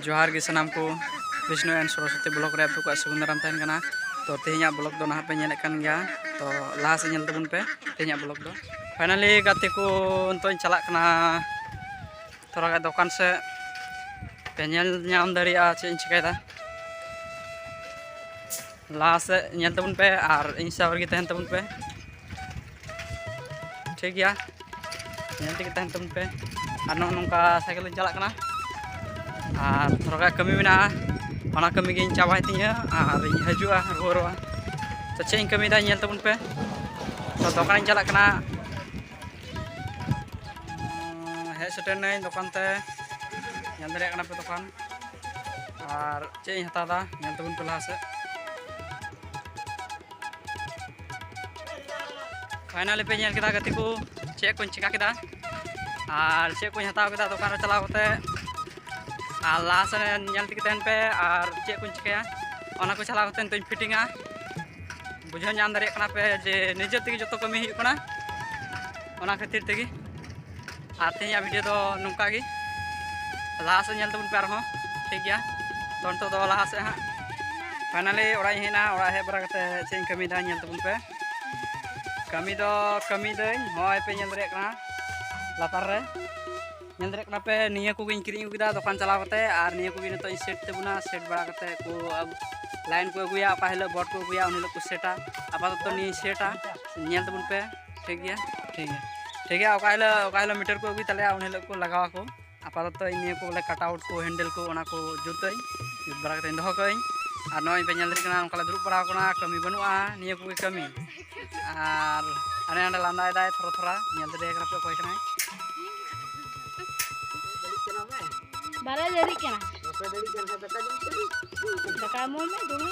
ᱡᱚᱦᱟᱨ ᱜᱮ ᱥᱟᱱᱟᱢ ᱠᱚ ᱵᱤᱥᱱᱩ ᱮᱱᱰ ᱥᱚᱨᱚᱥᱚᱛᱤ ᱵᱞᱚᱜ ᱨᱮ ᱟᱯᱮ ᱠᱚᱣᱟᱜ ᱥᱩᱜᱩᱱᱫᱟᱨᱟᱢ ᱛᱟᱦᱮᱱ ᱠᱟᱱᱟ ᱛᱚ ᱛᱮᱦᱮᱧᱟᱜ ᱵᱞᱚᱜ ᱫᱚ ᱱᱟᱦᱟᱜ ᱯᱮ ᱧᱮᱞᱮᱫ ᱠᱟᱱ ᱜᱮᱭᱟ ᱛᱚ ᱞᱟᱦᱟ ᱥᱮᱫ ᱧᱮᱞ ᱛᱟᱵᱚᱱ ᱯᱮ ᱛᱮᱦᱮᱧᱟᱜ ᱵᱞᱚᱜ ᱫᱚ ᱯᱷᱟᱭᱱᱟᱞᱤ ᱜᱟᱛᱮ ᱠᱚ ᱱᱤᱛᱚᱜ ᱤᱧ ᱪᱟᱞᱟᱜ ᱠᱟᱱᱟ ᱛᱷᱚᱲᱟ ᱜᱟᱱ ᱫᱚᱠᱟᱱ ᱥᱮᱫ ᱯᱮ ᱧᱮᱞ ᱧᱟᱢ ᱫᱟᱲᱮᱭᱟᱜᱼᱟ ᱪᱮᱫ ᱤᱧ ᱪᱤᱠᱟᱹᱭᱮᱫᱟ ᱞᱟᱦᱟ ᱥᱮᱫ ᱧᱮᱞ ᱛᱟᱵᱚᱱ ᱯᱮ ᱟᱨ ᱤᱧ ᱥᱟᱶ ᱨᱮᱜᱮ ᱛᱟᱦᱮᱱ ᱛᱟᱵᱚᱱ ᱯᱮ ᱴᱷᱤᱠ ᱜᱮᱭᱟ ᱧᱮᱞ ᱛᱮᱜᱮ ᱛᱟᱦᱮᱱ ᱛᱟᱵᱚᱱ ᱯᱮ ᱟᱨ ᱱᱚᱜᱼᱚ ᱱᱚᱝᱠᱟ ᱥᱟᱭᱠᱮᱞ ᱞᱤᱧ ᱪᱟᱞᱟᱜ ᱠᱟᱱᱟ ᱟᱨ ᱛᱷᱚᱲᱟ ᱠᱟᱹᱢᱤ ᱢᱮᱱᱟᱜᱼᱟ ᱚᱱᱟ ᱠᱟᱹᱢᱤ ᱜᱤᱧ ᱪᱟᱵᱟᱭ ᱛᱤᱧᱟᱹ ᱟᱨ ᱤᱧ ᱦᱤᱡᱩᱜᱼᱟ ᱨᱩᱣᱟᱹᱲᱚᱜᱼᱟ ᱛᱚ ᱪᱮᱫ ᱤᱧ ᱠᱟᱹᱢᱤᱭᱮᱫᱟ ᱧᱮᱞ ᱛᱟᱵᱚᱱ ᱯᱮ ᱛᱚ ᱫᱚᱠᱟᱱᱤᱧ ᱪᱟᱞᱟᱜ ᱠᱟᱱᱟ ᱦᱮᱡ ᱥᱮᱴᱮᱨᱱᱟᱹᱧ ᱫᱚᱠᱟᱱ ᱛᱮ ᱧᱮᱞ ᱫᱟᱲᱮᱭᱟᱜ ᱠᱟᱱᱟ ᱯᱮ ᱫᱚᱠᱟᱱ ᱟᱨ ᱪᱮᱫ ᱤᱧ ᱦᱟᱛᱟᱣᱫᱟ ᱧᱮᱞ ᱛᱟᱵᱚᱱ ᱯᱮ ᱞᱟᱦᱟ ᱥᱮᱫ ᱯᱷᱟᱭᱱᱟᱞᱤ ᱯᱮ ᱧᱮᱞ ᱠᱮᱫᱟ ᱜᱟᱛᱮ ᱠᱚ ᱪᱮᱫ ᱠᱚᱧ ᱪᱮᱠᱟ ᱠᱮᱫᱟ ᱟᱨ ᱪᱮᱫ ᱠᱚᱧ ᱦᱟᱛᱟᱣ ᱠᱮᱫᱟ ᱫᱚᱠᱟᱱ ᱨᱮ ᱪᱟᱞᱟᱣ ᱠᱟᱛᱮ ᱟᱨ ᱞᱟᱦᱟ ᱥᱮᱫ ᱧᱮᱞ ᱛᱮᱜᱮ ᱛᱟᱦᱮᱱ ᱯᱮ ᱟᱨ ᱪᱮᱫ ᱠᱚᱧ ᱪᱤᱠᱟᱹᱭᱟ ᱚᱱᱟ ᱠᱚ ᱪᱟᱞᱟᱣ ᱠᱟᱛᱮ ᱱᱤᱛᱚᱜ ᱯᱷᱤᱴᱤᱝᱟ ᱵᱩᱡᱷᱟᱹᱣ ᱧᱟᱢ ᱫᱟᱲᱮᱭᱟᱜ ᱠᱟᱱᱟ ᱯᱮ ᱡᱮ ᱱᱤᱡᱮ ᱛᱮᱜᱮ ᱡᱚᱛᱚ ᱠᱟᱹᱢᱤ ᱦᱩᱭᱩᱜ ᱠᱟᱱᱟ ᱚᱱᱟ ᱠᱷᱟᱹᱛᱤᱨ ᱛᱮᱜᱮ ᱟᱨ ᱛᱮᱦᱮᱧᱟᱜ ᱵᱷᱤᱰᱤᱭᱳ ᱫᱚ ᱱᱚᱝᱠᱟ ᱜᱮ ᱞᱟᱦᱟ ᱥᱮᱫ ᱧᱮᱞ ᱛᱟᱵᱚᱱ ᱯᱮ ᱟᱨᱦᱚᱸ ᱴᱷᱤᱠ ᱜᱮᱭᱟ ᱛᱚ ᱱᱤᱛᱚᱜ ᱫᱚ ᱞᱟᱦᱟ ᱥᱮᱫ ᱦᱟᱸᱜ ᱯᱷᱟᱭᱱᱟᱞᱤ ᱚᱲᱟᱜ ᱤᱧ ᱦᱮᱡ ᱮᱱᱟ ᱚᱲᱟᱜ ᱦᱮᱡ ᱵᱟᱲᱟ ᱠᱟᱛᱮ ᱪᱮᱫ ᱤᱧ ᱠᱟᱹᱢᱤᱭᱮᱫᱟ ᱧᱮᱞ ᱛᱟᱵᱚᱱ ᱯᱮ ᱠᱟᱹᱢᱤ ᱫᱚ ᱠᱟᱹᱢᱤᱭᱮᱫᱟᱹᱧ ᱦᱚᱸᱜᱼᱚᱭ ᱯᱮ ᱧᱮᱞ ᱫᱟᱲᱮᱭᱟᱜ ᱠᱟᱱᱟ ᱞᱟᱛᱟᱨ ᱨᱮ ᱧᱮᱞ ᱫᱟᱲᱮᱭᱟᱜ ᱠᱟᱱᱟ ᱯᱮ ᱱᱤᱭᱟᱹ ᱠᱚᱜᱮᱧ ᱠᱤᱨᱤᱧ ᱟᱹᱜᱩ ᱠᱮᱫᱟ ᱫᱚᱠᱟᱱ ᱪᱟᱞᱟᱣ ᱠᱟᱛᱮ ᱟᱨ ᱱᱤᱭᱟᱹ ᱠᱚᱜᱮ ᱱᱤᱛᱚᱜ ᱤᱧ ᱥᱮᱴ ᱛᱟᱵᱚᱱᱟ ᱥᱮᱴ ᱵᱟᱲᱟ ᱠᱟᱛᱮ ᱠᱚ ᱞᱟᱭᱤᱱ ᱠᱚ ᱟᱹᱜᱩᱭᱟ ᱚᱠᱟ ᱦᱤᱞᱳᱜ ᱵᱚᱴ ᱠᱚ ᱟᱹᱜᱩᱭᱟ ᱩᱱ ᱦᱤᱞᱳᱜ ᱠᱚ ᱥᱮᱴᱟ ᱟᱯᱟᱛᱚᱛᱚ ᱱᱤᱭᱟᱹᱧ ᱥᱮᱴᱟ ᱧᱮᱞ ᱛᱟᱵᱚᱱ ᱯᱮ ᱴᱷᱤᱠ ᱜᱮᱭᱟ ᱴᱷᱤᱠ ᱜᱮᱭᱟ ᱴᱷᱤᱠ ᱜᱮᱭᱟ ᱚᱠᱟ ᱦᱤᱞᱳᱜ ᱚᱠᱟ ᱦᱤᱞᱳᱜ ᱢᱤᱴᱟᱨ ᱠᱚ ᱟᱹᱜᱩᱭ ᱛᱟᱞᱮᱭᱟ ᱩᱱ ᱦᱤᱞᱳᱜ ᱠᱚ ᱞᱟᱜᱟᱣ ᱟᱠᱚ ᱟᱯᱟᱛᱚᱛᱚ ᱤᱧ ᱱᱤᱭᱟᱹ ᱠᱚ ᱵᱚᱞᱮ ᱠᱟᱴ ᱟᱣᱩᱴ ᱠᱚ ᱦᱮᱱᱰᱮᱞ ᱠᱚ ᱚᱱᱟ ᱠᱚ ᱡᱩᱛᱟᱹᱧ ᱡᱩᱛ ᱵᱟᱲᱟ ᱠᱟᱛᱮᱧ ᱫᱚᱦᱚ ᱠᱟᱜᱼᱟᱹᱧ ᱟᱨ ᱱᱚᱜᱼᱚᱭ ᱯᱮ ᱧᱮᱞ ᱫᱟᱲᱮᱜ ᱠᱟᱱᱟ ᱚᱱᱠᱟ ᱞᱮ ᱫᱩᱲᱩᱵ ᱵᱟᱲᱟᱣ ᱠᱟᱱᱟ ᱠᱟᱹᱢᱤ ᱵᱟᱹᱱᱩᱜᱼᱟ ᱱᱤᱭᱟᱹ ᱠᱚᱜᱮ ᱠᱟᱹᱢᱤ ᱟᱨ ᱦᱟᱱᱮ ᱦᱟᱸᱰᱮ ᱞᱟᱸᱫᱟᱭᱮᱫᱟᱭ ᱛᱷᱚᱨᱟ ᱛᱷᱚᱨᱟ ᱧᱮᱞ ᱫᱟᱲᱮᱭᱟᱭ ᱠᱟᱱᱟ ᱯᱮ ᱚᱠᱚᱭ ᱠᱟᱱᱟᱭ ᱵᱟᱨᱮ ᱫᱟᱹᱲᱤᱜ ᱠᱟᱱᱟ ᱫᱟᱠᱟ ᱮᱢᱚᱜ ᱢᱮ ᱫᱚᱢᱮ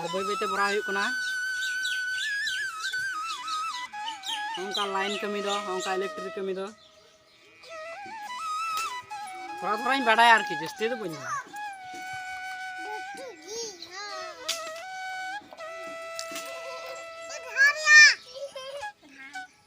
ᱟᱨ ᱵᱟᱹᱭ ᱵᱟᱹᱭᱛᱮ ᱵᱷᱚᱨᱟᱣ ᱦᱩᱭᱩᱜ ᱠᱟᱱᱟ ᱚᱱᱠᱟ ᱞᱟᱭᱤᱱ ᱠᱟᱹᱢᱤ ᱫᱚ ᱚᱱᱠᱟ ᱤᱞᱮᱠᱴᱨᱤᱠ ᱠᱟᱹᱢᱤ ᱫᱚ ᱛᱷᱚᱲᱟ ᱛᱷᱚᱲᱟᱧ ᱵᱟᱰᱟᱭᱟ ᱟᱨᱠᱤ ᱡᱟᱹᱥᱛᱤ ᱫᱚ ᱵᱟᱹᱧ ᱵᱟᱰᱟᱭᱟ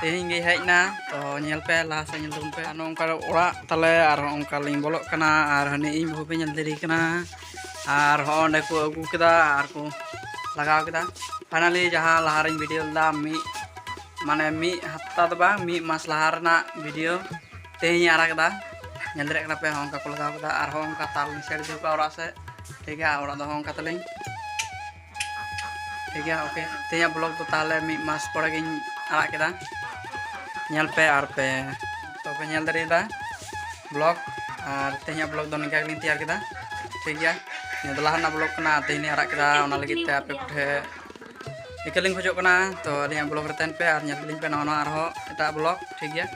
ᱛᱮᱦᱮᱧ ᱜᱮ ᱦᱮᱡ ᱮᱱᱟ ᱛᱚ ᱧᱮᱞ ᱯᱮ ᱞᱟᱦᱟ ᱥᱮᱫ ᱧᱮᱞ ᱛᱟᱵᱚᱱ ᱯᱮ ᱟᱨ ᱱᱚᱝᱠᱟ ᱚᱲᱟᱜ ᱛᱟᱞᱮ ᱟᱨ ᱚᱱᱠᱟ ᱞᱤᱧ ᱵᱚᱞᱚᱜ ᱠᱟᱱᱟ ᱟᱨ ᱦᱟᱹᱱᱤ ᱤᱧ ᱵᱟᱹᱦᱩ ᱯᱮ ᱧᱮᱞ ᱫᱟᱲᱮ ᱠᱟᱱᱟ ᱟᱨ ᱦᱚᱸ ᱚᱸᱰᱮ ᱠᱚ ᱟᱹᱜᱩ ᱠᱮᱫᱟ ᱟᱨ ᱠᱚ ᱞᱟᱜᱟᱣ ᱠᱮᱫᱟ ᱯᱷᱟᱭᱱᱟᱞᱤ ᱡᱟᱦᱟᱸ ᱞᱟᱦᱟ ᱨᱮᱧ ᱵᱷᱤᱰᱤᱭᱳ ᱞᱮᱫᱟ ᱢᱤᱫ ᱢᱟᱱᱮ ᱢᱤᱫ ᱦᱟᱯᱛᱟ ᱫᱚ ᱵᱟᱝ ᱢᱤᱫ ᱢᱟᱥ ᱞᱟᱦᱟ ᱨᱮᱱᱟᱜ ᱵᱷᱤᱰᱤᱭᱳ ᱛᱮᱦᱮᱧ ᱟᱲᱟᱜ ᱠᱮᱫᱟ ᱧᱮᱞ ᱫᱟᱲᱮᱭᱟᱜ ᱠᱟᱱᱟ ᱯᱮ ᱦᱚᱸ ᱚᱱᱠᱟ ᱠᱚ ᱞᱟᱜᱟᱣ ᱠᱮᱫᱟ ᱟᱨᱦᱚᱸ ᱚᱱᱠᱟ ᱛᱟᱨ ᱞᱤᱧ ᱥᱮᱴ ᱤᱫᱤ ᱠᱟᱜᱼᱟ ᱚᱲᱟᱜ ᱥᱮᱫ ᱴᱷᱤᱠ ᱜᱮᱭᱟ ᱚᱲᱟᱜ ᱫᱚ ᱦᱚᱸ ᱚᱱᱠᱟ ᱛᱟᱹᱞᱤᱧ ᱴᱷᱤᱠ ᱜᱮᱭᱟ ᱳᱠᱮ ᱛᱮᱦᱮᱧᱟᱜ ᱵᱞᱚᱜ ᱫᱚ ᱛᱟᱦᱚᱞᱮ ᱢᱤᱫ ᱢᱟᱥ ᱯᱚᱨᱮ ᱜᱤᱧ ᱟᱲᱟᱜ ᱠᱮᱫᱟ ᱧᱮᱞ ᱯᱮ ᱟᱨ ᱯᱮ ᱛᱚᱯᱮ ᱧᱮᱞ ᱫᱟᱲᱮᱭᱟᱫᱟ ᱵᱞᱚᱜ ᱟᱨ ᱛᱮᱦᱮᱧᱟᱜ ᱵᱞᱚᱜ ᱫᱚ ᱱᱤᱝᱠᱟ ᱜᱮᱞᱤᱧ ᱛᱮᱭᱟᱨ ᱠᱮᱫᱟ ᱴᱷᱤᱠ ᱜᱮᱭᱟ ᱱᱤᱭᱟᱹ ᱫᱚ ᱞᱟᱦᱟ ᱨᱮᱱᱟᱜ ᱵᱞᱚᱜ ᱠᱟᱱᱟ ᱛᱮᱦᱮᱧ ᱟᱲᱟᱜ ᱠᱮᱫᱟ ᱚᱱᱟ ᱞᱟᱹᱜᱤᱫ ᱛᱮ ᱟᱯᱮ ᱠᱚᱴᱷᱮᱱ ᱤᱠᱟᱹ ᱞᱤᱧ ᱠᱷᱚᱡᱚᱜ ᱠᱟᱱᱟ ᱛᱚ ᱟᱹᱞᱤᱧᱟᱜ ᱵᱞᱚᱜ ᱨᱮ ᱛᱟᱦᱮᱱ ᱯᱮ ᱟᱨ ᱧᱮᱞ ᱞᱤᱧ ᱯᱮ ᱱᱟᱣᱟ ᱱᱟᱣᱟ ᱟᱨᱦᱚᱸ ᱮᱴᱟᱜ ᱵᱞᱚᱜ ᱴᱷᱤᱠ ᱜᱮᱭᱟ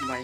ᱵᱟᱭ